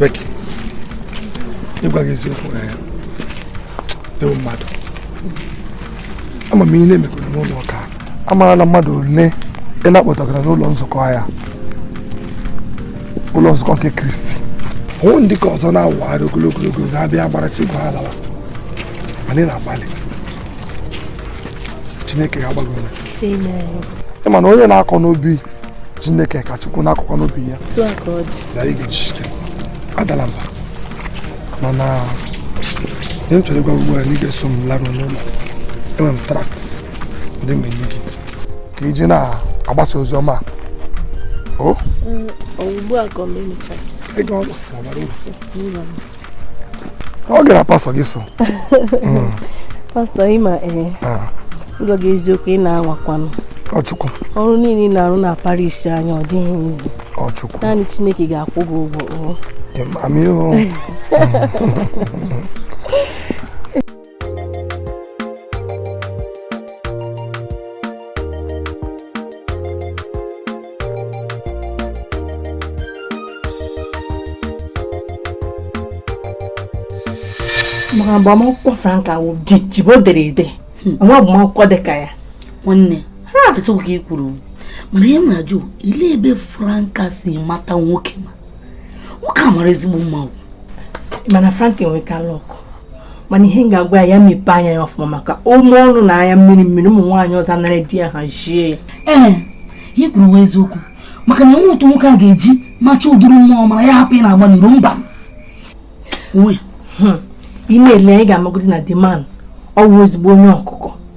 Becky, ịgwa gị eziokwu na ya ewu mmadụ ama m ihe ị na-emekwara n'ụlọ ụka amara na mmadụ ole ị na-akpọtagara n'ụlọ nzukọ ya ụlọ nzukọ nke kristi hụ ndị ụka ọzọ na-awụgharị ogologo ogologo na-abịa agbarachi igwe ha lawa mana ị na-agbalị chineke ga-agba gị ume na onye na-akọ n'ubi chineke ka chukwu na-akọkwa n'ubi ya adala mba mana ihe m chọrọ ịgwa ugbu a na ị ga-eso m laruo n'ụlọ enwere m tract ndị m ga-enye gị ka i ji na-agbasa ozi ọma o mm, ugbu a ka ọ na-emechara ọ gara pastọ gị so mm. pastọ ịma ee eh, ah. ịgwa gị eziokwu ị na-anwakwanụ ọchukwu ọrụ niile ị na-arụ na parish anyị a ọ dịghị easy ọchukwu naanị Chineke ga-akwụ gị ụgwọ oh. maka agbamakwụkwọ Franka wụ jibo dere ede hmm. o nweghị agbamakwụkwọ dị ka ya nwanne etu ka ị kwuru mana ihe m na-ajụ olee ebe Franka si mata nwoke ọma nwoke a mara ezigbo mma mana Franka enweka luck mana ihe m ga-agwa ya ya mepee anya ya ọfụma maka o mee ọnụ na anya mmiri mmiri ụmụ nwaanyị ọzọ anara di ya hazie ya ee ihe i kwuru wụ eziokwu maka na o nweghị otu nwoke a ga-eji machaa ụdịrị mma ọ mara ya hapụ ịna-agba n'iro mba hmm. ị na-ele anya ị ga-amagodi na the man ọ wụ ezigbo onye ọkụkọ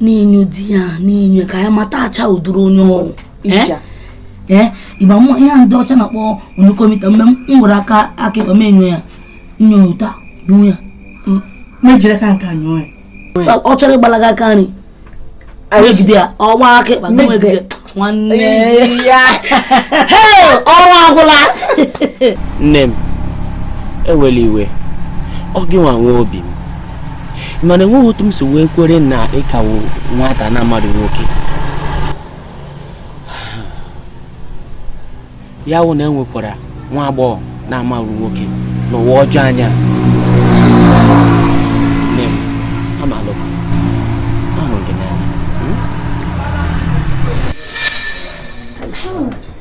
na-enyo di ya na-enyo ka anyị matachaa ụdịrị onye ọ wụ ee ị ma m wụ ihe ndị ọcha na-akpọ onyokomita mgbe m gwara aka aka ịkọ m enyo ya nyota bụ ya mejiri ka nke anyụọ ya ọ chọọ ịgbalaga aka nri ejide ya ọ gbaa aka ịkpa m ejide nwanne ya ọrụ agwụla nne m ewela iwe ọ gịnwa nwe obi m mana enweghị otu m si wee kwere na ị ka wụ nwata na-amaghị nwoke ya wụ na enwekwara nwa agbọghọ na-amaghị nwoke n'ụwa ọjọọ anyị a Good.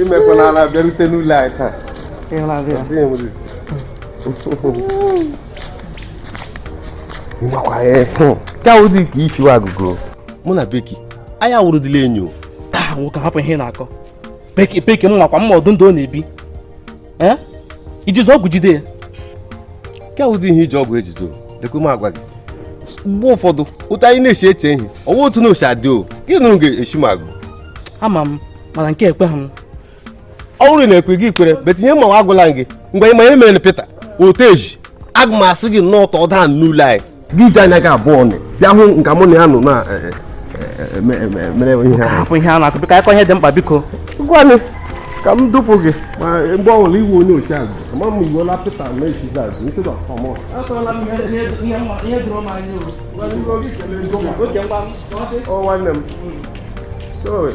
imekwala ala bịarute n'ụlọ anyị taa ịmakwa ya ka ụdị ka isiwa agụgụ mụ na beki anyị awụrụdịla enyo nwoke hapụ ihe na-akọ beki beki m makwa m ma ụdị ndụ ọ na-ebi ee ijizi ọgwụ jide ya nke ụdị ihe iji ọgwụ ejido lekwe m agwa gị mgbe ụfọdụ otu anyị na-esi eche ihe ọwa otu ọ na-esi adị o gị nọrọ ga-esi m agụ ama m mana nke a ekweghị m ọ bụrụ na i kweghị kwere but ihe m ma wụ agwala m gị mgbe ị ma ihe mere na Pita oteji aga m asị gị nọtụ ọdụ n'ụlọ anyị gị iji anya gị abụọ nị bịa hụ nga mụ na ya nọ na eh, eh, eh, me- me- mere ihe ahụ hapụ ihe a na-akọ biko a kọọ ihe dị mkpa biko ngwanụ ka m dupụ gị ma mgbe ọbụla ị wụ onye ochi agụ ama m ị wụla Pita na-echizi agụ instead of Thomas ọ nwanne m Sorry.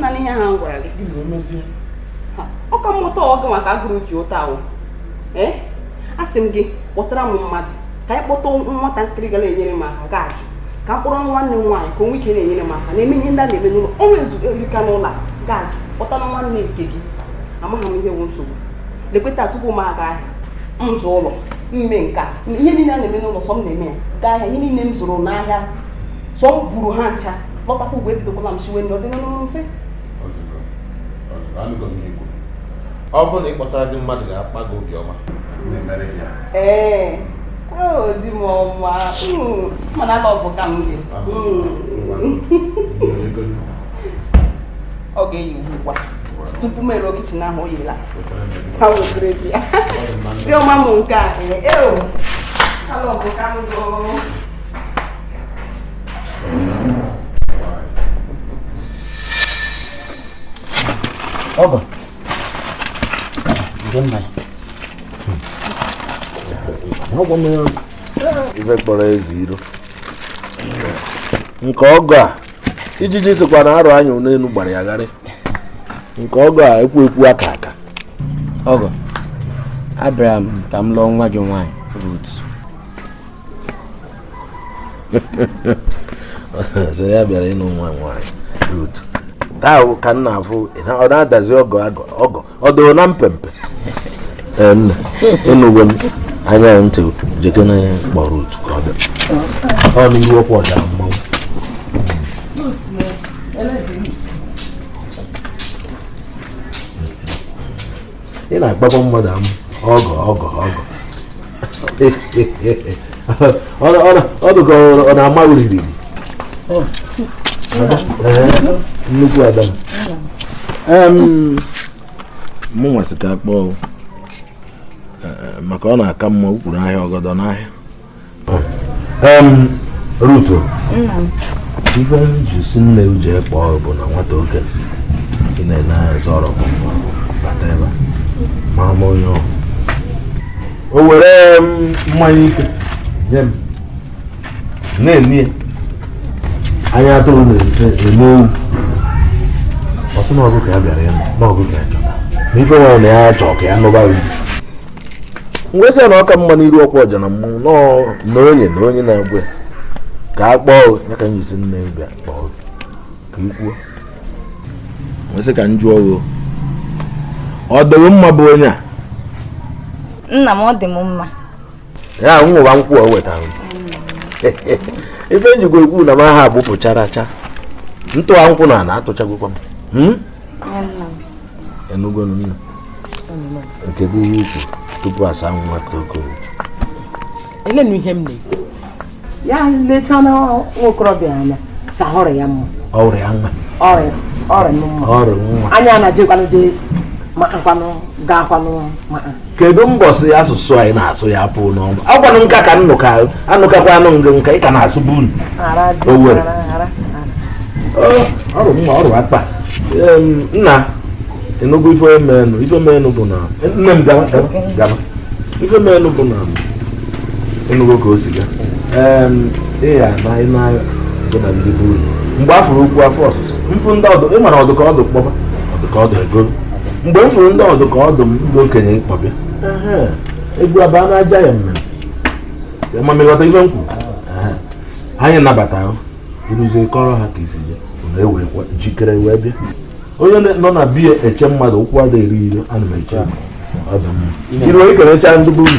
na ihe a m gwara gị ọ ka mmụta ọgụ maka agụrụ ji ụta ahụ ee eh? asị m gị kpọtara m mmadụ ka anyị kpọta nwatakịrị ga na-enyere m aka gị ajụ ka m kpọrọ nwanne m nwaanyị ka o nwee ike na-enyere m aka na-eme ihe ndị a na-eme n'ụlọ ọrụ erika n'ụlọ a gị ajụ kpọtanụ nwanne nke gị amaghị m ihe bụ nsogbu lekwa taa tupu m aga ahịa m zaa ụlọ m mee nke a ihe niile a na-eme n'ụlọ sọ m na-eme ya gaa ahịa ihe niile m zụrụ n'ahịa sọ m buru ha ncha lọtakwa ugbu a ebidokwala m siwe nri ọ dị n'ọnụ mfe ọ bụrụ na ị kpọtara gị mmadụ ga-akpa gị obiọma ee di m ọma mana ala ọbụ ka m gị ọ ga-eyi ugbu ugbu a tupu m eruo kichin ahụ o yila ha wetara gị ya di ọma m nke a ee alọbụ ka m gị o Oba. Don mai. Ha gwa m ya. Ife kpọrọ ezi iro. Nke ọgọ a ijiji sokwa na arụ anya n'elu gbara ya gharị. Nke ọgọ a ekwu ekwu aka aka. Ọgọ, abịara m ka m lụọ nwa gị nwaanyị Rut. so ya bịara ịnụ nwa nwaanyị rut taa ka m na-afụ ọ na-adazi ọgọ ọgọ ọ dịrị na mpempe nna ịnụgwe m anya ntị jekene ya kpọọ rut ka ọ bịa ọ dị iwu ọkwa ọda mmanwụ ị na-akpakwa mmadụ amụ ọgọ ọgọ ọgọ ọdụ ka ọ na-ama uriri nnukwu ada m wee sị ka a kpọọ maka ọ na-aka mma ukwuru ahịa ọgọdọ n'ahịa Ruto ife ji si nne uche kpọọ bụ na nwata oke ị na-ele anya zọrọ bata ebe mara m onye ọhụrụ o were mmanya ike nye m na-ene ya anya atụrụ na-ene ewu ọ sị na ọ gụ ka ya bịara ya na ọ gụ ka ya chọrọ na ife nwere na ya chọọ ka ya nụba m wee sị na ọ ka mma n'iru ọkwa ọja na mmụọ na onye na onye na-agwa ka a kpọọ ya ka nyesi nne bịa kpọọ ka i kwuo m wee sị ka m jụọ gị ọ dị gị mma bụ onye a nna m ọ dị m mma ya ahụ ṅụwa nkwụ o wetara m ife m jikwa ekwu na m aha agbụpụchara acha ntụwa nkwụ na na atụchagokwa m hmm? ị nụgonụ nna kedu ihe i kwu tupu asa nwa toko elenu ihe m na-ekwu ya lechaa na nwokorobịa anya sị ọ rị ya mma ọ rị ya mma ọ rị mma ọ rị mma anya na-ejekwanụ dị makakwanụ gaakwanụ maka kedu mbọsị asụsụ anyị na-asụ ya pụọ n'ọnụ agwanụ nka ka nnụka anụkakwa anụ ngị nka ị ka na-asụ bụ olu Owere ọ rị mma ọ rị akpa nna ị nụgo ife menụ ife menụ bụ na nne m gaba ife menụ bụ na ị nụgo ka o si ga ịya na ị na-agha so na ndị bụ uru mgbe a fụrụ okwu afọ ọsụsụ m fụ ndị ọdụ ị mara ọdụ ka ọdụ kpọba ọdụ ka ọdụ ego mgbe m fụrụ ndị ọdụ ka ọdụ m ndị okenye mkpọbịa egwu abaa na aja ya mmemme ma ị ghọta ife m kwuru anyị nabata ahụ uruzie kọrọ ha ka isi ya na e were jikere wee bịa onye nọ na be ya eche mmadụ ukwu ada eri ire ana m eche iru onye kenecha ndị bụ uru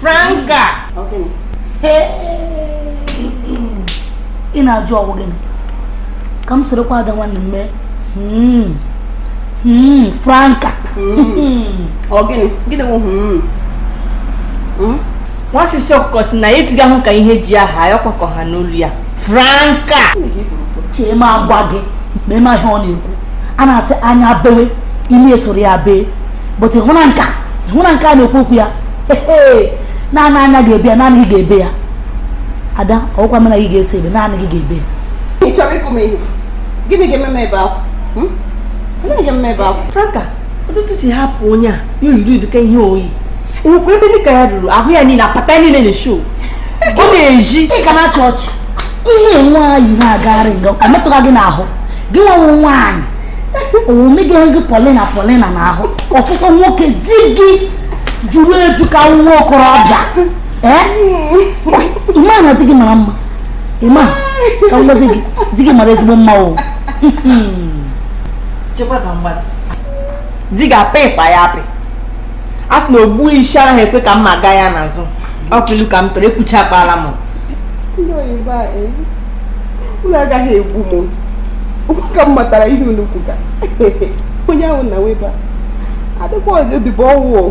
Franka! Ị na-ajụ ọ wụ gịnị ka m sorokwa ada nwanne m mee hmm. Hmm, Franka! Hmm. Ọ gịnị? Gịnị wụ nwa sisi ọkụkọ sị na ya etigahụ ka ihe ji ya haa ya ọ kwa ka ọha nụ olu ya franka chee ma agwa gị ma ị ma ihe ọ na-ekwu a na-asị anya bewe imi esoro ya bee but ịhụ na nka ịhụ na nka a na-ekwu okwu ya ee naanị anya ga-ebe ya naanị gị ga-ebe ya ada ọ wụkwa m na gị ga-eso ebe naanị gị ga-ebe ya ị chọrọ ịkụ m ihe gịnị ga-eme m ebe akwa Hmm? gịnị ga-eme m ebe akwa franka ọtụtụ si hapụ onye a ya yiri ụdịka ihe o yi enwekwa ebe dịka ya ruru ahụ ya niile apata ya niile na-eshow ọ na-eji ị ga na-achị ọchị ihe nwa yi na-agagharị nga ọ metụga gị n'ahụ gị nwa wụ nwaanyị o megịghị gị polina polina na ahụ ọfụkwa nwoke di gị juru eju ka nwa okorobịa ị ma na di gị mara mma ị ma ka m gwazi gị di gị mara ezigbo mma o di ga-apị ịkpa ya apị a sị na ogbu isi anaghị ekwe ka mma gaa ya n'azụ ọ bụ ilu ka m tụrụ ekwuchakwala m ndị oyibo a eh, unu agaghị egbu m ụmụaka m matara ihe unu kwuga onye ahụ na weba adịkwa ọzọ odibo ọ wụ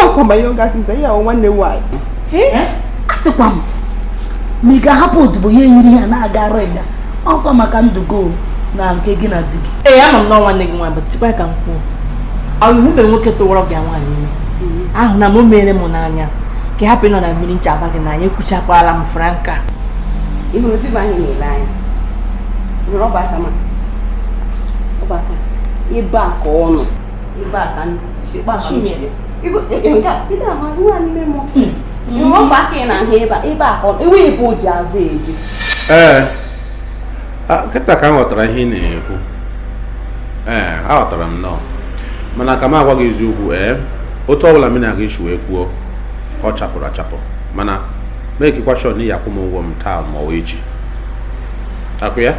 ọkwa ma ihe ọ gasị zaa ya nwanne nwaanyị eh? eh? asịkwa m ma ị ga-ahapụ odibo ya eyiri ya na-agagharị ọkwa maka ndụgo na nke gị na di gị ee ama m na nwanne gị nwaanyị bụ chekwa ka m kwuo ahụhụ mgbe nwoke tụwara gị nwaanyị ime mm-hmm. ahụ na m mere m n'anya ka ị hapụ ịnọ na mmiri ncha abaa gị n'anya ekwuchakwala m franka ị hụrụ di m ahụ ị na-ele anya hụrụ ọba aka ma ọba aka ebe a ka ọ nọ ebe a ka ndị ji kpa ha mmiri. Igo- e- e- nke a, ị ga-ama nwa nne m hụrụ ọba aka ị na-ahụ ebe a ebe a ka ọ nọ enweghị ebe o ji azụ eje ee kịta ka m ghọtara ihe ị na-ekwu ee aghọtara m nnọọ mana ka m agwa gị eziokwu ee otu ọbụla m na-aga isi wee kwuo ọ chapụrụ achapụ mana makekwa sure na ị ya-akwụ m ụgwọ m taa ma ọ wụ echi akwụ ya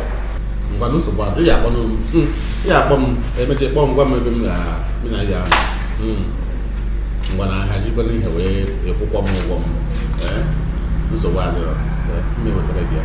ngwanụ nsogbu adịghị akpọ m hmm, ya akpọ m ị mecha kpọọ m gwa m ebe m ga m na ya hmm. ngwanụ aha jikwana ihe wee akwụkwa m ụgwọ m nsogbu adịrọ m ewetara gị ya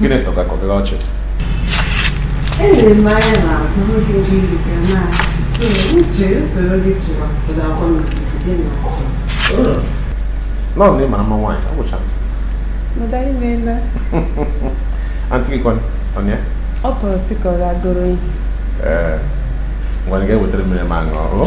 gịnị tọgakwa gị ọchị nọọ na ị mara mma nwaanyị ọ gwụchara aunty gị kwanụ ọnụ ya ọ bụrụ sị ka ọ ga-agụrụ ihe ee ngwanị gaa wetara m mmiri m ṅụọ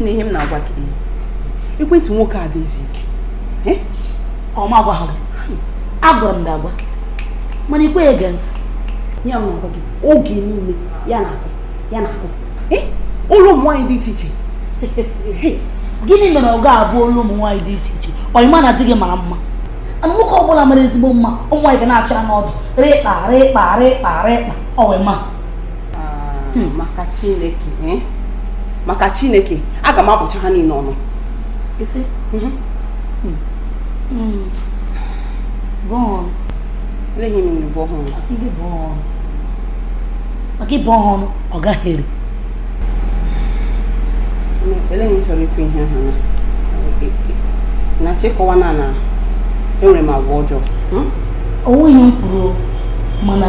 na ihe m na-agwa gị ekwentị nwoke a dịzi ike ọ ma agwaghị gị agwara m gị agwa mana i kweghị ege ntị ihe m na-agwa gị oge niile ya na-akụ ya na-akụ olu ụmụ nwaanyị dị iche iche gịnị mere ọ ga-abụ olu ụmụ nwaanyị dị iche iche ọ ị ma na di gị mara mma and nwoke ọbụla mara ezigbo mma ụmụ nwaanyị ga na-achụ ya n'ọdụ rịkpa rịkpa rịkpa rịkpa ọwịma ah, hmm. maka chineke eh? maka chineke aga m abụcha ha niile ọnụ mhm. hmm. hmm. bụọ ọnụ eleghị m nne bụọ ha ọnụ asị gị bụọ ọnụ maka ị bụọ ha ọnụ ọ gaghị ere elee ihe ị chọrọ ikwu ihe ị na-achọ ịkọwa na na enwere m agwa ọjọọ onweghị ihe m kwuru mana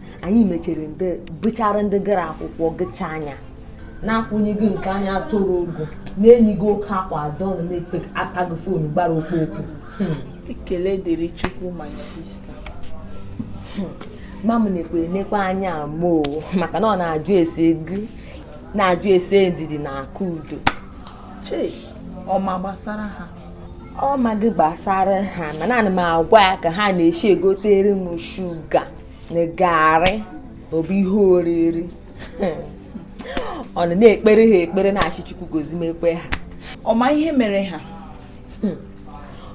anyị mechere ndị bụchara ndị gara akwụkwọ gịcha anya na-akwụnye gị nke anya toro ogo na-eyi gị oke akwa adọ na na-ekpe aka gị fon gbara okpokpo hmm. ekele dịrị chukwu my sister hmm. ma m na-ekwu enekwa anya m oo maka na ọ na-ajụ ese gị na-ajụ ese ndidi na akụudo chei ọ ma gbasara ha ọ maghị gbasara ha mana ana m agwa ya ka ha na-eshi egotere m shuga na garị ọ bụ ihe oriri ọ nọ na-ekpere ha ekpere na-ashị chukwu gozimekwe ha ọ ma ihe mere ha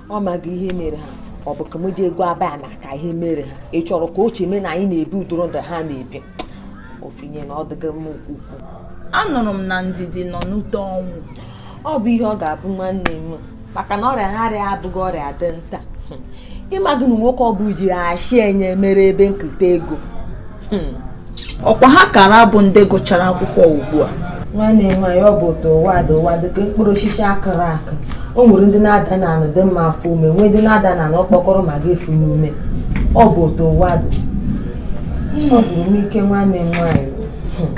ọ maghị ihe mere ha ọ bụ ka m jee gwaba ya maka ihe mere ha ị chọrọ ka o cheme na anyị na-ebi ụdịrị ndụ ha na-ebi ofinye na ọ dịghị m ukwu anụrụ m na ndidi nọ n'ute ọnwụ ọ bụ ihe ọ ga-abụ nwanne m maka na ọrịa na-arịa abụghị ọrịa dị nta ị maghị na nwoke ọ bụ ji ashị enye mere ebe nketa ego hmm. ọkwa ha kara bụ ndị gụchara akwụkwọ ugbu a nwanne m nwaanyị ọ bụ otu ụwa dị ụwa dịka mkpụrụ osisi a kụrụ akụ o nwere ndị na-ada na anụ dị mma efuo ome nwee ndị na-ada na anụ ọkpọkọrọ ma ga efu ome ọ bụ otu ụwa dị ọ gwụrụ m ike nwanne m nwaanyị hmm.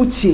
uche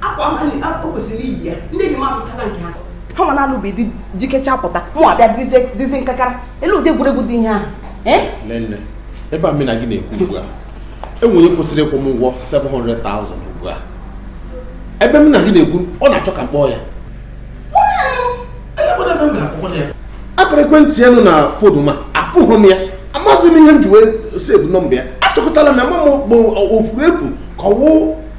akwa o kwesịrị iyi ya ndị enyi m azụchala nke ha ha nwa na-alụbe di jikecha pụta mụ abịa dịzi nkakara elee ụdị egwuregwu dị ihe ahụ eh? nne ebe m na gị na-ekwu ugbu a e nwere onye kwesịrị ịkwụ m ụgwọ 700,000 ugbu a ebe m na gị na-ekwu ọ na-achọ ka m kpọọ ya akara ekwentị ya nọ na fon m afụghị m ya amaghịzi m ihe m ji wee save nọmba ya achọkọtala m ya ma ọ bụ o furu efu ka ọ wụ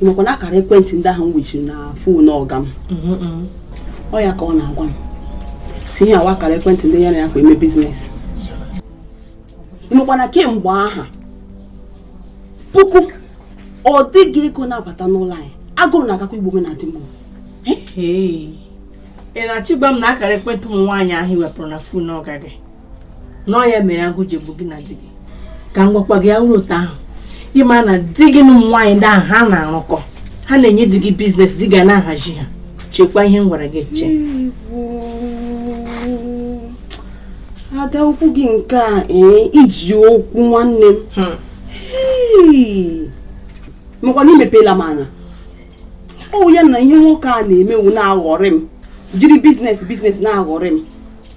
ị makwa na akara ekwentị ndị ahụ m wechiri na fon ọga m Mm-mm. ọ ya ka ọ na-agwa m sị ihe a wụ akara ekwentị ndị ya na ya kwa eme biznes ị makwa na kemgbe aha puku ọ dịghị ego na-abata n'ụlọ anyị agụrụ na-agakwa igbu mụ na di m Hey. ị na-achọ ịgwa m na akara ekwentị ụmụ nwaanyị ahụ i wepụrụ na fon ọga gị na ọ ya mere agụụ ji egbu gị na di gị ka m gwakwa gị ya wụrụ otu ahụ ị ma na di gị na ụmụ nwaanyị ndị ahụ ha na-arụkọ ha na-enye di gị biznes di gị ana-ahazi ha chekwa ihe m gwara gị eche ada okwu gị nke a ee i ji okwu nwanne m Hey! makwa na i mepela m anya ọ wụ ya na ihe nwoke a na-eme wụ na-aghọrị m jiri biznes biznes na-aghọrị m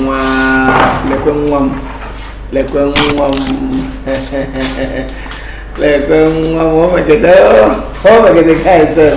nwa lekwe nwa m lekwe nwa m lekwe nwa m o megide o megide ka anyị sef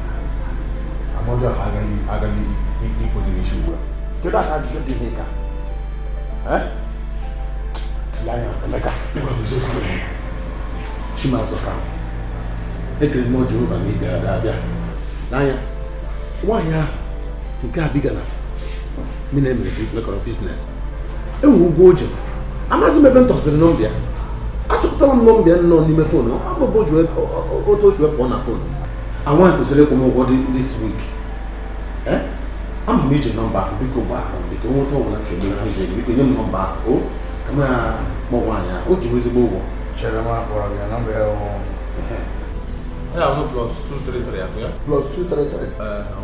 mmadụ ahụ agaghị agaghị ikpo dị n'isi ugbu a kedu aha ajụjụ dị ihe ka laya emeka chimazụ ka ekere mmụọ jehova na ịbịara ga abịa n'anya nwaanyị ahụ nke a bi Ghana mụ na ya emere bụ mekọrọ biznes e nwere ụgwọ o ji amaghịzi m ebe m tọsịrị nọmba ya achọpụtara m nọmba ya nọ n'ime fon ọ bụ otu o si wepụ na fon anwa kwesịrị ịkwụ m ụgwọ this week ama m i ji nọmba ahụ biko gba ahụ biko nweta ọbụla chọrọ ihe ije biko nye m nọmba ahụ o ka m kpọọ nwaanyị ahụ o ji m ezigbo ụgwọ chere m akpọrọ gị nọmba ya bụ Ya bụ plus 233 akụ ya. plus 233 Ee, ọ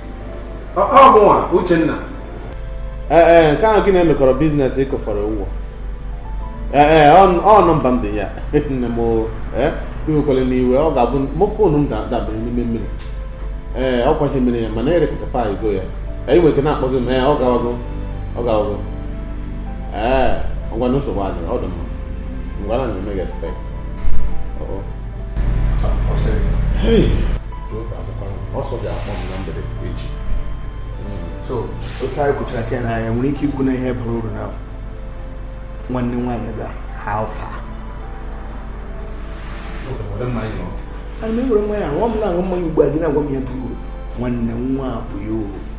ọ mụwa Uchenna ee e, nke ahụ gị na ya mekọrọ biznes ị kwụfọrọ ụgwọ ee e, ọ nọmba m dị ya nne m e, iwekwala m iwe ọ ga-abụ mgbe foonu m dabara n'ime mmiri ee ọ kwa ihe mere ya mana e rectify go ya ị nwere ike na-akpọzi m ee ọ gawago ọ gawago ee ngwanu nsogbu adịrọ ọ dị mma ngwanu m na-eme gị expect Hey. Jehova azakwara m na ọ sị ọ ga-akpọ m na mgbede echi so otu anyị kwuchara ka na anyị nwere ike ikwu na ihe bara uru na nwanne nwaanyị bịa ha alfa ana m ewere mmanya aṅụ m na-aṅụ mmanya ugbu a gị na-agwa m ihe bara uru nwanne nwa bụ ya uru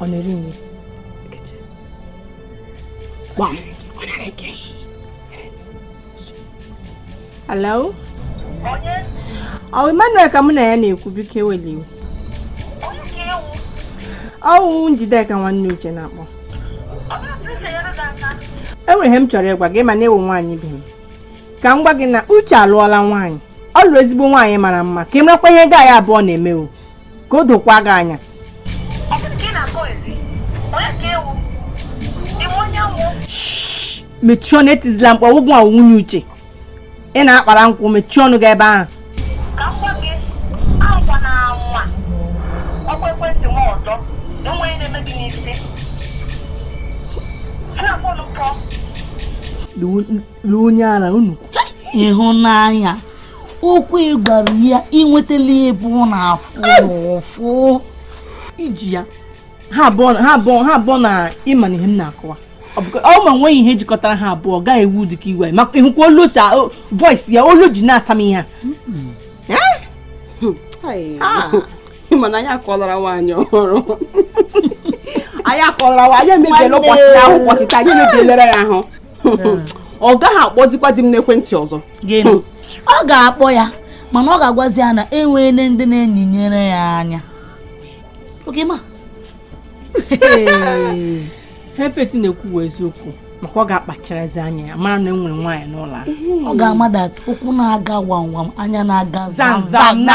ọ na-eri nri gbam ọ na-eri nke hello ọ Emmanuel ka mụ na ya na-ekwu biko ewela iwe ọ wụ Njideka nwanne Uche na-akpọ enwere ihe m chọrọ ịgwa gị mana ị wụ nwaanyị ibe m ka m gwa gị na Uche alụọla nwaanyị ọ lụrụ ezigbo nwaanyị mara mma ka ị marakwa ihe gị na ya abụọ na-eme o ka o dokwa gị anya mechie ọnụ etizila mkpu ọ gị wụ nwunye Uche ị na-akpara nkwụ mechie ọnụ gị ebe ahụ ka m gwa gị anwana anwa kpọkwa ekwentị m ọzọ na o nwe ihe na-eme gị n'isi si na fon pụọ lụọ onye ara unu ịhụnanya okwu ị gwara ya enwetala ebe ọ na-afụ ụfụ i ji ya ha abụọ na ị ma na ihe m na-akọwa ọ ma nweghị ihe jikọtara ha abụọ gaghị ewe ụdị oke iwe maka ị hụkwa olu si voice ya olu o ji na-asa m ihe mana anyị akọlara nwaanyị ọhụrụ anyị akọlara nwaanyị emebiela ụbọchị ya ahụ ụbọchị taa anyị emebielere ya ahụ ọ gaghị akpọzikwa di m n'ekwentị ọzọ ọ ga-akpọ ya mana ọ ga-agwazi ya na enweela ndị na-enyinyere ya anya okay ma ihe Faith na-ekwu wụ eziokwu maka ọ ga-akpacharazi anya ya mara na enwere nwaanyị n'ụlọ a ọ ga-ama that ụkwụ na-aga wam wam anya na-aga zam zam na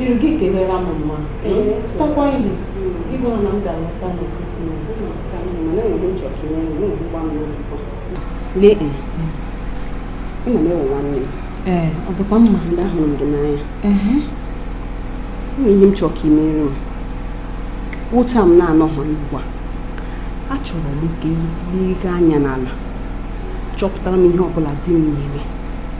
iru gị kelela m mma zụtakwa ihe ị gwara na m ga-alọta na krismas lee ị ma na ị wụ nwanne m ee ọ dịkwa mma ndị ahụrụ m gị n'anya ehe ị ma ihe m chọrọ ka i mere m wụ otu a m na-anọghị ugbu a achọrọ m ka i lega anya n'ala chọpụtara m ihe ọbụla di m na-eme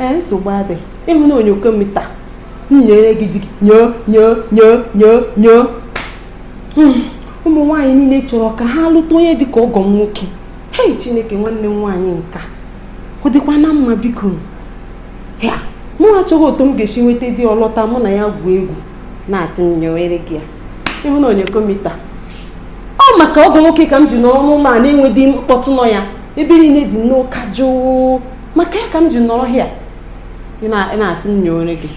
ee nsogbu adị ị hụ na onyokomita nyoere gị di gị nyoo nyoo nyoo nyoo nyoo hmm, ụmụ nwaanyị niile chọrọ ka ha lụta onye dị ka ọgọ m nwoke hei chineke nwanne m nwaanyị nke a ọ dịkwa na mma biko ya mụ achọghị otu m ga-esi nweta di ọ lọta mụ na ya gwuo egwu na-asị nyowere gị ya ịhụ na onye komita ọ maka ọgọ nwoke ka m ji nọrọ n'ụlọ a na-enweghị mkpọtụ nọ ya ebe niile dị n'ụka jụụ maka ya ka m ji nọrọ here ị na-asị m nyowere gị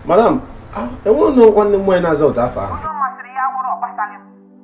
madam enweghị nwanne m nwaanyị na-aza ụdị afa ahụ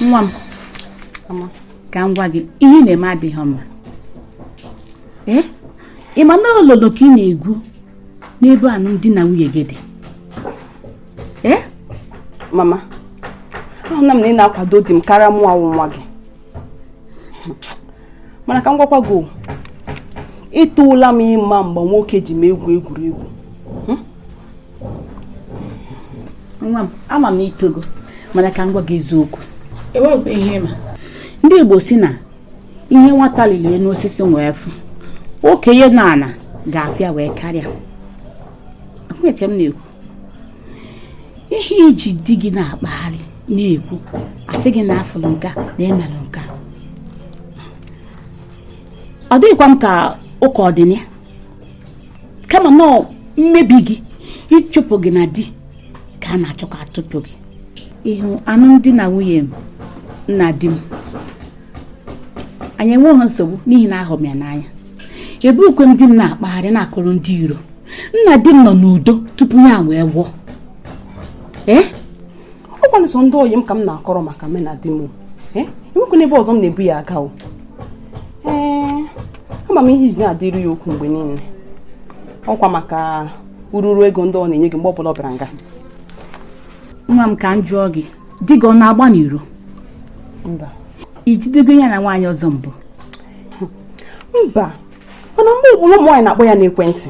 nwa m ka m gwa gị ihe ị na-eme adịghị mma ee ị ma na olulu ka ị na-egwu n'ebe alụmdi na nwunye gị dị ee mama ahụna m na ị na-akwado di m karịa mụnwa wụ nwa gị mana ka m gwakwa gị etoola m ịma mgbe nwoke ji m egwu egwuregwu hmm? nwa m ama m i togo mana ka m gwa gị eziokwu enweghị ihe ị ma ndị Igbo sị na ihe nwata lili elu osisi wee fụ okenye nọ n'ala ga-afụ ya wee karịa akwụeche m na-ekwu ihe i ji di gị na-akpagharị na-ekwu a sị gị na a fụrụ nka na e melụ nka ọ dịghịkwa m ka ụka ọ dị na ya kama na mmebi gị ịchụpụ gị na di ka a na-achọ ka a chụpụ gị ị hụ anụmdi na nwunye mụ na di m anyị enweghị nsogbu n'ihi na ahụ m ya n'anya ebughikwe m di m na-akpagharị na-akọrọ ndị iro mụ na di m nọ n'udo tupu ya wee nwụọ ee ọ kwanụ sọ ndị oyi m ka m na-akọrọ maka mụ na di m ee o nwekwanụ ebe ọzọ m na-ebu ya aga o ee ama m ihe i ji na-adịru ya okwu mgbe niile ọ kwa maka ururu ego ndị ọ na-enye gị mgbe ọ bụla ọ bịara nga nwa m ka m jụọ gị di gị ọ na-agba n'iro mba i jidego ya na nwaanyị ọzọ mbụ mba mana mgbe ọbụla ụmụ nwaanyị na-akpọ ya n'ekwentị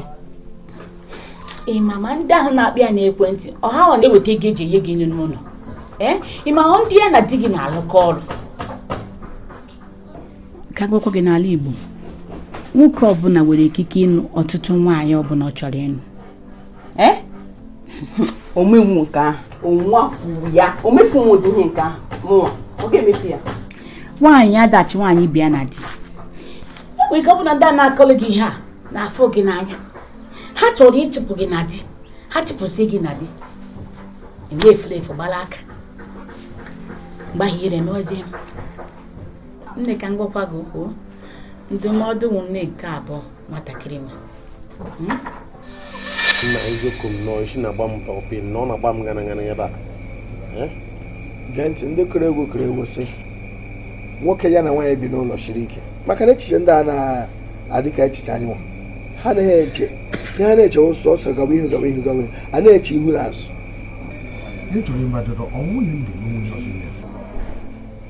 ị ma ma ndị ahụ na-akpọ ya n'ekwentị ọ ha ọ na-eweta ego e ji enye gị nri n'ụlọ ee ị ma ndị ya na di gị na-alụkọ ọrụ ka m gwakwa gị n'ala Igbo nwoke ọbụla nwere ikike ịnụ ọtụtụ nwaanyị ọbụla ọ chọrọ ịnụ eh? o menwu nke ahụ onwa kwuru ya o mefughị ụdị ihe nke ahụ mụnwa ọ ga-emefu ya nwaanyị adachi nwaanyị ibe ya na di o nwere ike ọ bụ na ndị a na-akọlụ gị ihe a na-afụ gị n'anya ha chọrọ ịchụpụ gị na di ha chụpụsị gị na di i mee efulefu gbara aka mgbe ahụ ire n'ozi nne ka m gwakwa gị okwu ndụmọdụ nne nke abụọ nwatakịrị nwa hmm? nna eziokwu m nọ isi na-agba m pọpị na ọ na-agba m gara gara ebe a eh? gee ntị ndị kere egwu kere egwu sị nwoke ya na nwaanyị bi n'ụlọ siri ike maka na echiche ndị a na-adị ka echiche anyị nwa ha anaghị eche ihe ha na-eche sọsọ gawa ihu gawa ihu gawa a na-eche ihu na azụ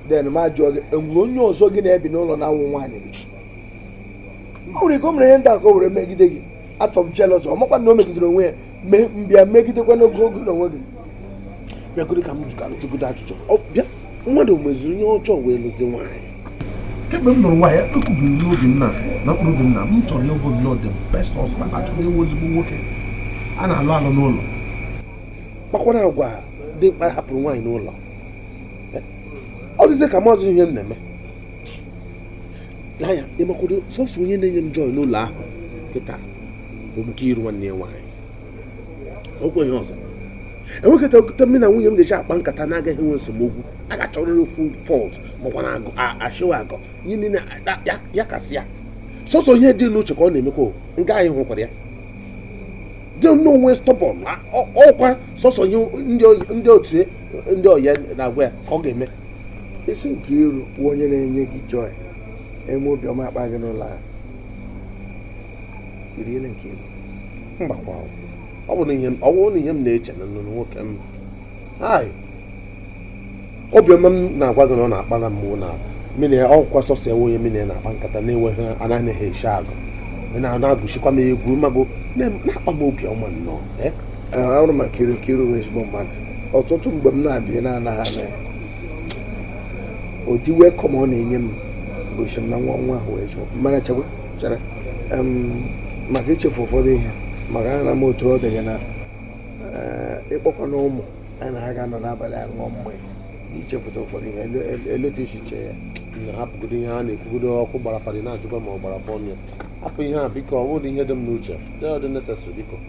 den m ajụọ gị enwere onye ọzọ gị na ya bi n'ụlọ na-awụ nwaanyị gị o nwere ike o mere ihe ndị a ka o were megide gị out of jealousy ọ makwa na o megidere onwe ya me- mbịa megidekwa n'oge oge na onwe gị bịagodo ka m jụgodo ajụjụ Ọ bịa mmadụ meziri ihe ọjọọ wee lụzi nwaanyị kemgbe m nụrụ nwaanyị ekwubiri n'obi m na na mkpụrụ obi m na m chọrọ ịbụ nnọọ the best husband achọrọ ịbụ ezigbo nwoke a na-alụ alụ n'ụlọ kpakwara agwa dị mkpa hapụrụ nwaanyị n'ụlọ ọ dịzie ka m amazị ihe m na-eme n'anya ị makwa na sọsọ onye na-enye m joy n'ụlọ ahụ kịta bụ nkiru nwanne ya nwaanyị o kweghị ọzọ enwekwa otu mụ na nwunye m ga-eji akpa nkata na-agaghị enwe esemokwu a ga-achọrịrị okwu fọlt makwa na agụ a- achịwa agụ ihe niile a- ya- ya kasị ya sọsọ ihe dị n'uche ka ọ na-emekwa o. nke anyị hụkwara ya dị nnọọ stọbọn ọkwa sọsọ ihe ndị oyi- ndị otu ya- ndị ọyị ya na-agwa ya ka ọ ga-eme ị sị nkiru bụ onye na-enye gị joy eme obiọma akpa gị n'ụlọ ahụ really nkiru mgbakwa ọ bụ na ihe m- ọ bụrụ na ihe m na-eche na nụrụ nwoke m hai obiọma m na-agwa gị na ọ na-akpa na mmụọ na mine ọkwa sọsọ ya wụ onye mụ na ya na-akpa nkata na-enweghị anaghị ha eche agụ Ị na- na-agụchikwa m egwu mago na-akpa m obiọma nnọọ eh? ahụrụ m nkiru nkiru bụ ezigbo mmadụ ọtụtụ mgbe m na-abịa na-anaghị ana ya ụdị welkọm ọ na-enye m gosi m na nwa nwa ahụ wee chọọ mmara chekwa chere maka ichefu ụfọdụ ihe maka ama m otu ọ dị gị na eh, ịkpọkwa na ụmụ nwaanyị na ha ga-anọ n'abalị a ṅụọ mmanya ichefuta ụfọdụ ihe eleta echiche ya hapụgodo ihe a na-ekwugodo ọkụ gbara fada ị na-ajụkwa ma ọ gbara afọ ọnụ ya hapụ ihe a biko ọ bụrọ ihe dị m n'uche dị ọ dị necessary biko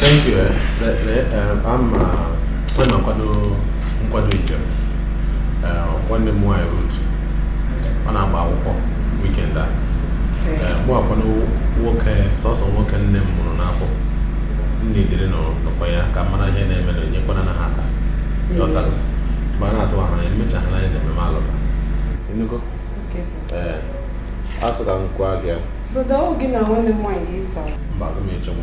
thank you a na-akwado nkwado njem nwanne m nwaanyị rut ọ na-agba akwụkwọ wikend a mụ wụkwa nwoke sọsọ nwoke nne m mụrụ n'afọ nne dịrị n'okwu ya ka m mara ihe na-eme na enyekwanụ ha aka ma na-atụ ahụ anya emechaghị anyị na ememe alọta ị nụgo ee a sị ka m gwa gị ya mba aga m echenwu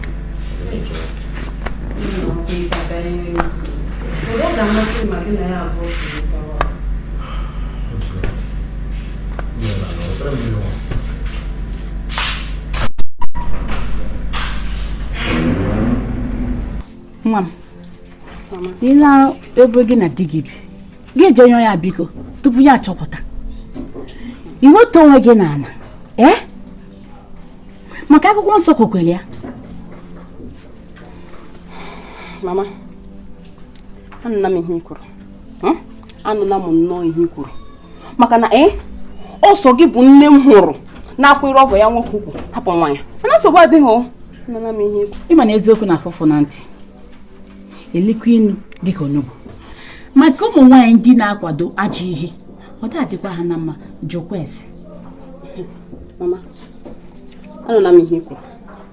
nwa m ị naa ebe gị na di gị bi gị eje yọọ ya biko tupu ya achọpụta iweta onwe gị n'ala ee eh? maka akwụkwọ nsọ kwukwara ya mama anụla m ihe ị kwuru anụla m nnọọ ihe ị kwuru maka na ee eh, ọ sọ gị bụ nne m hụrụ na-akwụrụ ọgọ ya nwoke ukwu hapụ nwa ya mana nsogbu adịghị o anụla m ihe ị ma na eziokwu na-afụ ụfụ na ntị elukwa inu dịka onugbu maka ụmụ nwaanyị ndị na-akwado ajọ ihe ọ dị adịkwa ha na mma jụkwa ese mama anụla m ihe i kwu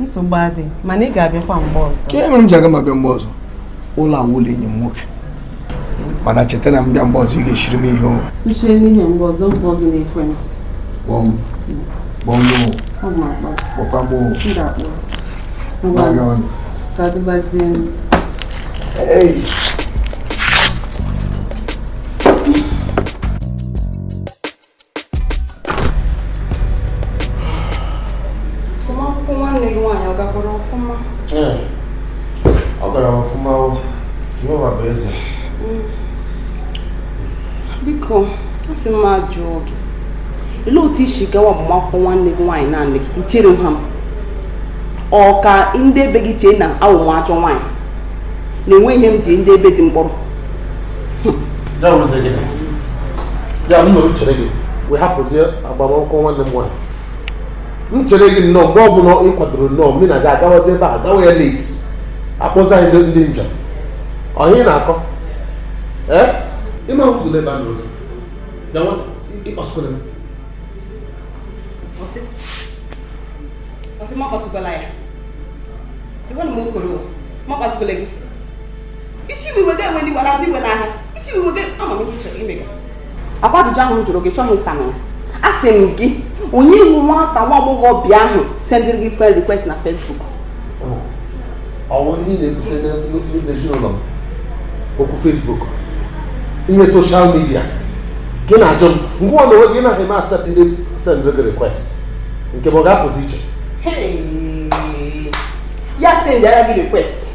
nsogbu adị mana ị ga-abịakwa mgbe ọzọ kee mere m ji aga m abịa mgbe ọzọ ụlọ a wụ ụlọ enyi m nwoke mana cheta na m bịa mgbe ọzọ ị ga-eshiri m ihe o uche n'ihe mgbe ọzọ m kpọọ gị n'ekwentị kpọọ m kpọọ m o ọ ma akpọ kpọkwa m o m ga-akpọ na-aga ngwanụ ka ọ dịbazie m Hey. akwụkwọ nwanne gị nwaanyị ọ gakwara ọfụma ọ gara ọfụma jehova bụ eze mm. biko asị m m ajụọ gị olee otu i si gawa agbamakwụkwọ nwanne gị nwaanyị naanị gị i chereghị m ọ ka ndị ebe gị chee na awụ m ajọ nwaanyị na enweghị ihe m ji ndị ebe di m kpọrọ ya wụrụzie gịnị ya m nọrọ chere gị wee hapụzie agbamakwụkwọ nwanne m nwaanyị m chere gị nnọọ mgbe ọbụla ị kwadoro nnọọ mụ na gị agawazi ebe a gawa ya late a kpọzie anyị ndị- ndị njem ọ ihe ị na-akọ ee ịma ụzọ n'ebe a nọrọ gị bịa nwata akpasukwala m ọ sị ọ sị m akpasukwala ya ịgwa na m okoro m akpasukwala gị ọkwa ajụjụ ahụ m jụrụ gị chọghị ịsa na ya asị m gị onye wụ nwata nwa agbọghọbịa ahụ sendịrị gị friend request na Facebook ọ wụ ihe na-ebute n'ezinụlọ m okwu Facebook ihe social media gị na-ajụ m ngwa na onwe gị na-eme accept ndị sendịrị gị request nke mụ ọ ga-apụzi iche ya sendịara gị request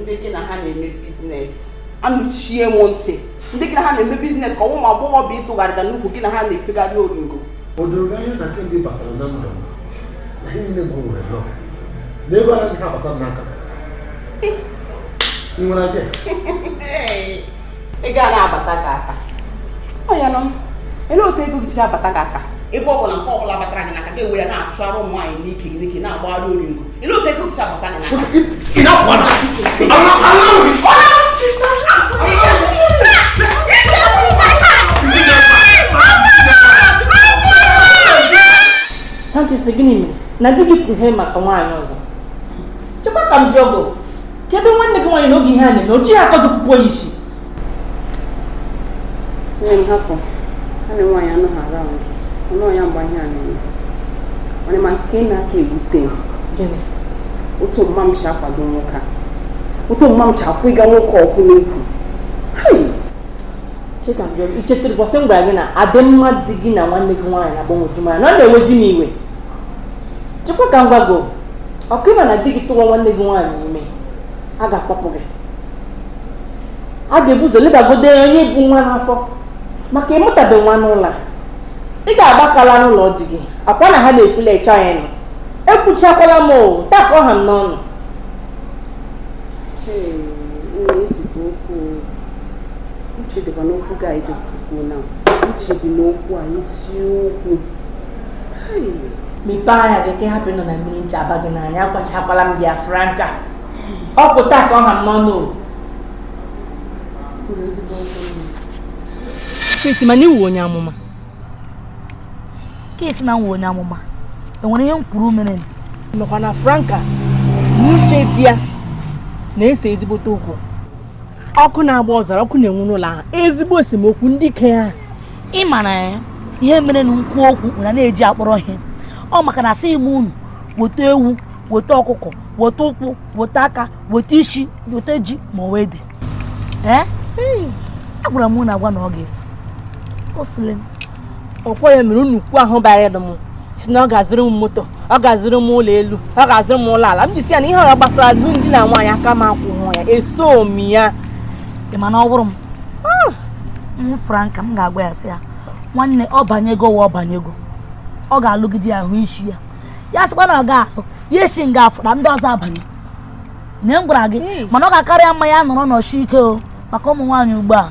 ndị gị na ha na-eme biznes anụchie m ntị ndị gị na ha na-eme biznes ka ọ wụ ụmụ agbọghọ bụ ịtụgharịta n'ukwu gị na ha na-efegharị oringo o doro gị anya na kemgbe ị batara na ndụ m na ihe niile gbanwere nnọọ na ego anaghịzi ha abata m n'aka ị nwere aja ego a na-abata gị aka oya nụ ele otu ego gị si abata gị aka ebe ọ bụla nke ọ bụla batara gị n'aka gị were na-achụgharị ụmụ nwaanyị n'ike gị n'ike na-agbagharị oringo Franka ị sị gịnị mere na di gị kwuhe maka nwaanyị ọzọ chekwa ka m jụọ gị kee ebe nwanne gị nwaanyị nọ oge ihe a na-eme o ji ya akọdụ pupu ya isi nne m hapụ nwanne m nwaanyị anọghị around ọ nọghị ya mgbe ihe a na-eme mana ị ma nke na-aka ewute m gịnị otu mma m si akwado nwoke a otu mma m si akwụga nwoke ọkụ n'ukwu hai che ka m jụọ gị i chetara ụbọsị m gwara gị na adịmma di gị na nwanne gị nwaanyị na-agbanwoju m anya na ọ na-ewezi m iwe chekwa ka m gwa gị ọkwa ị ma na di gị tụwa nwanne gị nwaanyị ime a ga-akpọpụ gị a ga-ebu ụzọ lebagodo onye bu nwa n'afọ maka ịmụtabe nwa n'ụlọ ị ga-agba aka laa n'ụlọ di gị akwa na ha na-ekwula ịcha ya nọ ekwuchakwala m otu a ka ọ ha m n'ọnụ uche dịkwa n'okwu gị a ị just kwuo na uche dị n'okwu a eziokwu mepee anya gị ka ị hapụ ịnọ na mmiri ncha aba gị n'anya agwachakwala m gị franka ọ bụ otu a ka ọ ha n'ọnụ Feti mana ị wụ onye amụma ka e si na m wụ onye amụma enwere ihe m kwuru mere nụ ọkwa na franka na Uche di ya na-ese ezigbote okwu ọkụ na-agba ọzara ọkụ na-enwu n'ụlọ ahụ ezigbo esemokwu ndị ike ya ị mara ya eh, ihe mere na m kwuo okwu unu ana-eji akpọrọ ihe ọ maka na asịghị m unu weta ewu weta ọkụkọ weta ụkwụ weta aka weta isi weta ji ma ọ wụ ede agwara m unu agwa na ọ ga-eso o sịrị m ọkwa ya mere nwoke ahụ bịara ịlụ m sị na ọ ga-azụrụ m moto ọ ga-azụrụ m ụlọ elu ọ ga-azụrụ m ụlọ ala m ji sị ya na ihe ọ wụla gbasara alụmdi na nwaanyị aka m akwụhụ ya esohu m ya ị ma na ọ bụrụ m franka m ga-agwa ya sị ya nwanne ọ banyego wa ọ banyego ọ ga-alụgide ya hụ isi ya ya sịkwa na ọ ga-alụ ya esi nga afụra ndị ọzọ abanye na m gwara gị hmm. mana ọ ga-akara ya mma ya nọrọ nọsie ike o maka ụmụ nwaanyị ugbu a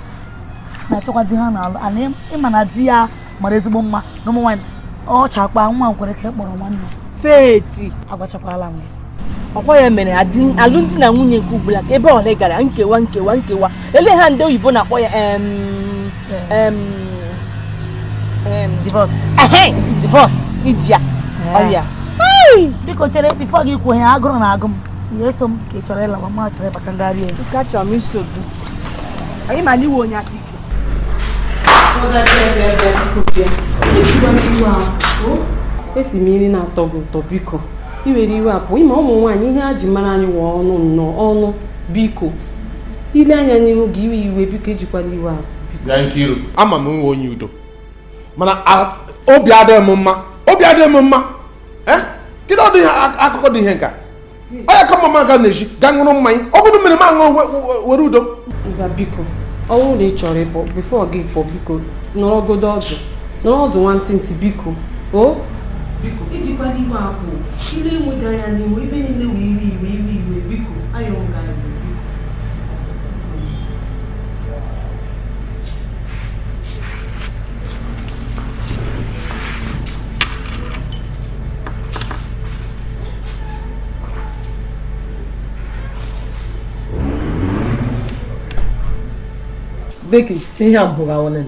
na-achọkwa di ha na-alụ ana ị ma na di ya mara ezigbo mma na ụmụ nwaanyị ọ chakwa nwa nkwere ka ị e kpọrọ nwanne feti agwachakwala m gị ọkwa ya mere adị- alụmdi na nwunye nke ugbula ka ebe ole gara nkewa nkewa nkewa ele ha ndị oyibo na-akpọ ya em, em, em, Divorce. ehe, divorce iji ya ọrịa Hey! biko chere bifo gị ikwu ihe agụrụ na-agụ m ya eso m ka ị chọrọ ịlawa ma chọrọ ịbata ndị arịa elu ka chọrọ m iso gị anyị ma na ị wụ onye aka ike esi m iri na-atọ gị ụtọ biko iwere iwe apụ ị ma ụmụ nwaanyị ihe a ji mara anyị wụ ọnụ nnọọ ọnụ biko ile anya n'ihu gị iwe iwe biko ejikwala iwe apụ bịa Nkiru ama m wụ onye udo mana a- obi adịghị m mma obi adịghị m mma Eh? kedu ụdị ihe ak- akụkọ dị ihe nka ọ ya ka mma m ga n'ezi ga ṅụrụ mmanya ọ bụrụ mmiri m aṅụrụ we- we- were udo ngwa biko ọ bụrụ na ị chọrọ ịpụ bifo gị pụọ biko nọrọgodo ọdụ nọrọ ọdụ nwantịntị biko o biko ejikwala iwe apụ e lewe gị anya n'ihu ebe niile wụ iwe iwe iwe iwe biko ayọ m gị iwe Becky, ihe a bụrụ awụlịn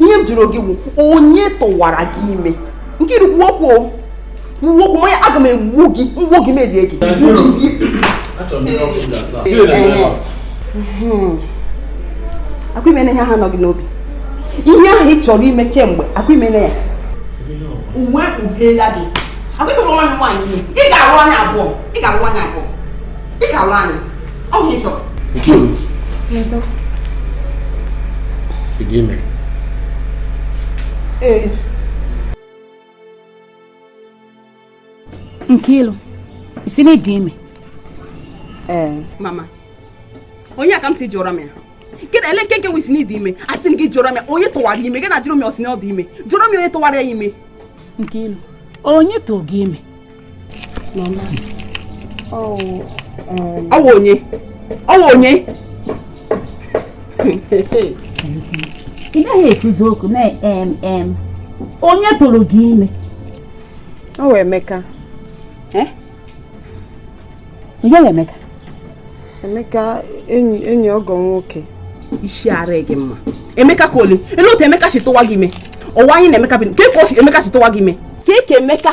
ihe m jụrụ gị bụ onye tụwara gị ime Nkiru kwuo okwu kwuo okwu manya aga m egbu gị m gbuo gị m erie gị akwa ị mene ihe ahụ nọ gị n'obi ihe ahụ ị chọrọ ime kemgbe akwa ị mene ya uwe kpughela gị akwa ị tụrụ nwanne m nwaanyị ime ị ga-alụ anyị abụọ ị ga-alụ anyị abụọ ị ga-alụ anyị Ọ bụ ihe ị chọrọ. Nkiru. Edo. Ị dị ime. Ee. Nkiru, ị sị na ị dị ime. Ee. Mama, ọ ihe a ka m sị jụọrọ m ya. Gịnị ele nke nke wụ ị sị na ị dị ime? Asị m gị jụọrọ m ya, onye tụwara ime? Gị na-ajụrụ m ya ọ sị na ọ dị ime. Jụọrọ m ya onye tụwara ya ime. Nkiru, onye tụrụ gị ime? ọ wụ onye ọ wụ onye ị naghị ekwuzi okwu na em onye tụrụ gị ime ọ wụ Emeka eh? onye Emeka Emeka enyi enyi ọgọ nwoke isi ara gị mma Emeka nke ole ele otu Emeka si tụwa gị ime ọ wụ anyị na Emeka bi ka ka o si Emeka si tụwa gị ime ka ka Emeka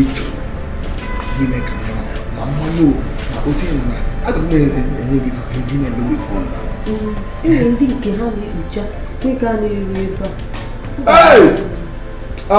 ịchọ ime ka ma mmanụ na otu ịnọ na aga m enye gị maka eji na-emewe phone enwere ndị nke ha na-ekpucha nke a na-eru ebe a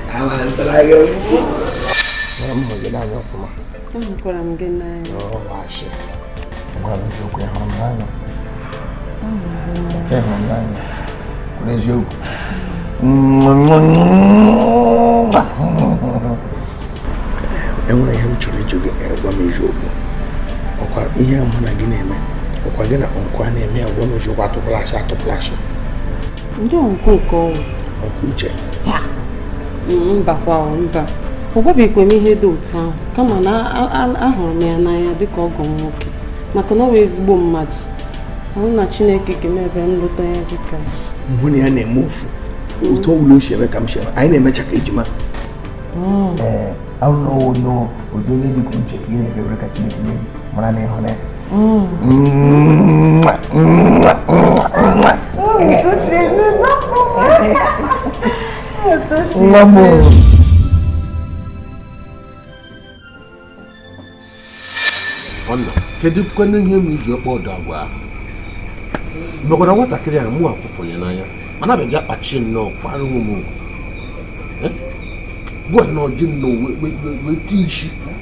enwere ihe m chọrọ ịjụ gị gwa m eziokwu ọkwa ihe mụ na gị na-eme ọkwa gị na nkwa na-eme ya gwa m eziokwu atụkwala ashị atụkwala ashị ndị nke ụka ọwụ ọkwa uche mbakwa mba ọ gwabeghịkwa m ihe dị otu ahụ kama na ahụrụ m ya n'anya dịka ọgọ m nwoke maka na ọ wụ ezigbo mmadụ ọ wụrụ na chineke ga-eme ebe m lụta ya dịka mụ na ya na-eme ofu otu ọwụla o si eme ka m si eme anyị na-emecha ka ejima hmm. ọ wụrụ na onye onye dị ka uche ka ị na-ekpere ka chineke nye gị mara na ịhụ na ya nwa m ọnna kedu kwanụ ihe m ji akpa ụdị agwa ahụ mekwara nwatakịrị a mụ akwụfụnye n'anya mana abịa bịa kpachie nnọọ kpara ụmụ agwa nnọọ ji nnọọ wee tii isi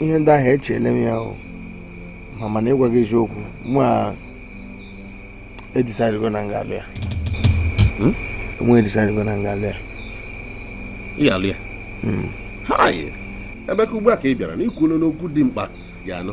ihe ndị ahụ echeele m ya ahụ ma mana ịgwa gị eziokwu mụ a edecidego na m ga-alụ ya hmm? mụ edecidego na m ga-alụ ya ị ga-alụ ya hmm. ebe ka ugbu a ka ị bịara n'ikwu n'okwu dị mkpa ga-anụ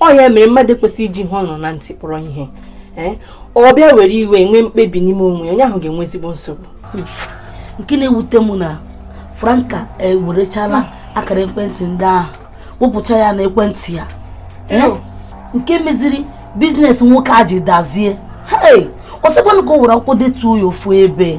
ọ ya mere mmadụ kwesịrị iji ihe ọ nụ na ntị kpọrọ ihe eh? ọ bịa were iwe nwee mkpebi n'ime onwe onye ahụ ga-enwe ezigbo nsogbu hmm. nke na-ewute m na franka ewerechala akara ekwentị ndị ahụ wepụcha ya na ekwentị ya eh? Hmm. nke meziri business nwoke a ji dazie ọ sịkwanụ ka o were akwụkwọ detuo ya ofu ebe